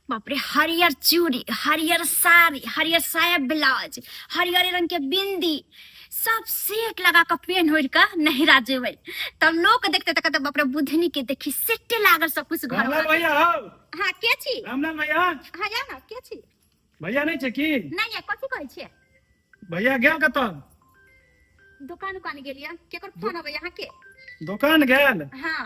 बाप रे हरियर चूड़ी हरियर साड़ी हरियर साया ब्लाउज हरियर रंग के बिंदी सब सेट लगा के पेन होड़ के नहिरा जेबै तब लोग देखते त कहते बाप रे बुधनी के देखी सेटे लागल सब कुछ घर रामलाल भैया हौ हां के छी रामलाल भैया हां या ना के छी भैया नहीं छै की नहीं या कथि कहै छियै भैया गेल कतऽ दुकान उकान गेलियै केकर फोन अबै अहाँ के दोकान गेल हां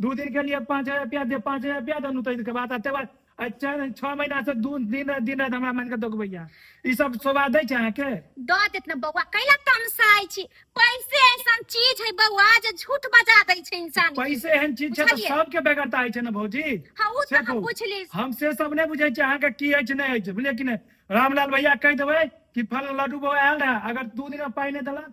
दू दिन के लिए पाँच हजार रुपया दे पाँच हजार रुपया दनू तो इनके बात आते बात चार छः महीना से दू दिन रात दिन रात हमरा मानिके दगबैया ई सब शोभा दै छै अहाँके दऽ देत ने बौआ कैला तमसाइ छी पैसे ऐसन चीज है बौआ जे झूठ बजा दै छै इंसान के पैसे एहन चीज छै तऽ बुझलियै सबके बेगरता होइ छै ने भौजी हाँ ओ से तऽ हम कहू बुझली हम से सब नहि बुझै छियै अहाँके की अछि नहि अछि बुझलियै कि नहि रामलाल भैया कहि देबै कि फल लड्डू बौआ आयल रहै अगर दू दिनमे पाइ नहि देलक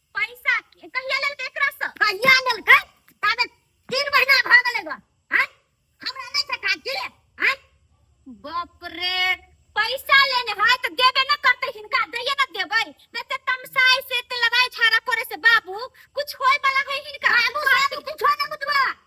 पैसा कहिया लेलकै एकरा से कहिया लेलकै ताबे तीन महीना भ गेलै गो हैं हमरा नै छै काज के हैं बाप रे पैसा लेने है तो देबे न करते हिनका दैये न देबै देते तमसाई से ते लड़ाई झाड़ा करे से बाबू कुछ होय वाला है हिनका बाबू बाबू कुछ न बुझबा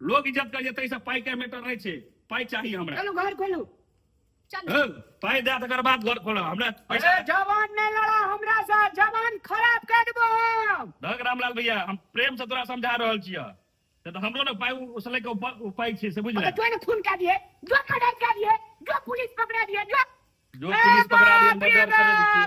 लोग इज्जत करिए ताहि से पाई के मैटर नहीं छे पाई चाहिए हमरा चलो घर खोलो चल पाई दे तकर बाद घर खोलो हमरा पैसा जवान नहीं लड़ा हमरा से जवान खराब कर देबो हम धक रामलाल भैया हम प्रेम से तोरा समझा रहल छियै से तऽ हमरो ने पाई उसले के उप- उपाय छै से बुझले तो ने खून कर दिए जो खराब कर दिए जो पुलिस पकड़ा दिए जो जो पुलिस पकड़ा दिए मर्डर कर दिए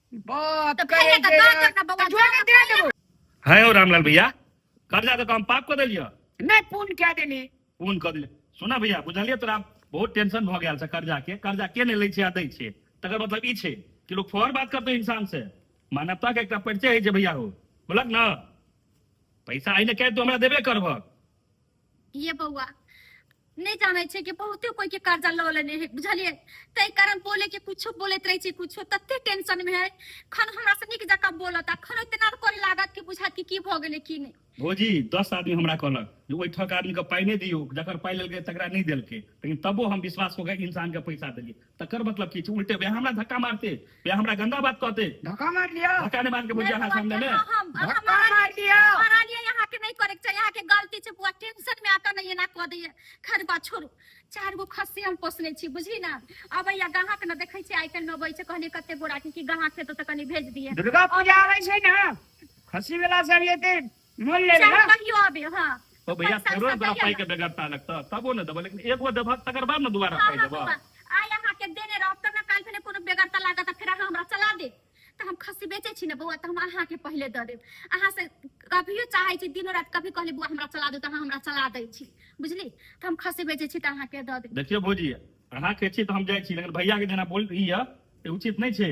है हो रामलाल भैया कर्जा तो हम पाप कर दिलियो नहीं पूर्ण क्या देनी पूर्ण कर दिले सुना भैया बुझलिए तोरा बहुत टेंशन भ गया कर्जा के कर्जा के नहीं ले छे आ दै छे तकर मतलब ई छे कि लोग फौर बात करते इंसान से मानवता के एक परिचय है जे भैया हो बोलक ना पैसा आइने कह तो हमरा देबे करबक ये बौआ नहीं जाने छे कि बहुते कोई के कर्जा लो लेने है बुझलिए तै कारण बोले के कुछ बोलत रहे छे कुछ तत्ते टेंशन में है खन हमरा से निक जका बोलता खन इतना करे लागत कि बुझा कि की भ गेले की नहीं भौजी दस आदमी हमरा कहलक जे ओहि ठक आदमी के पाई नहीं दियो जकर पाई लेलके तकरा नहीं देलके लेकिन तबो हम विश्वास कऽ के इंसान के पैसा देलिए तकर मतलब की छै उल्टे वह हमरा धक्का मारते वह हमरा गंदा बात कहते धक्का मार लिया धक्का नहीं मार के बुझा है सामने में धक्का मार लिया मारा लिया यहां के नहीं करे चाहिए यहां के गलती छै बुआ टेंशन में आता नहीं ना कह दिए खर बा छोड़ू चार गो खस्सी हम पोसने छी बुझी ना अब या गाहक न देखे छी आइकन में अबै छै कहने कते गोरा की गाहक छै तो कनी भेज दिए दुर्गा पूजा आवे छै ना खस्सी वाला सब एते मोन ले चाहे कहियो आबे हां तो भैया फेरो एक बार पाई के बेगरता लगता तबो न देबो लेकिन एक बार देबो तकर बाद न दोबारा पाई देबो आय अहाँ के देने रहब तब न काल फेने कोनो बेगरता लागत फिर अहाँ हमरा चला दे त हम खस्सी बेचे छी न बौआ त हम अहाँ के पहले द देब अहाँ से कभियो चाहे छी दिनो रात कभी कहले बौआ हमरा चला दे त अहाँ हमरा चला दै छी बुझली त हम खस्सी बेचे छी त अहाँ के द देब देखियो भौजी अहाँ के छी त हम जाय छी लेकिन भैया के जेना बोल ई है उचित नहीं छै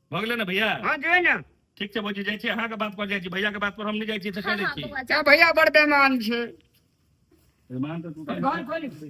भऽ गेलै ने भैया हाँ जो है ना ठीक छै भौजी जाइ छी अहाँके बात पर जाइ छी भैया के बात पर हम नहीं जाइ छी तऽ हाँ कहि हाँ दै छी बौआ क्या भैया बड़ बेमान छे मेहमान तऽ तू घर कहि खोल। दे।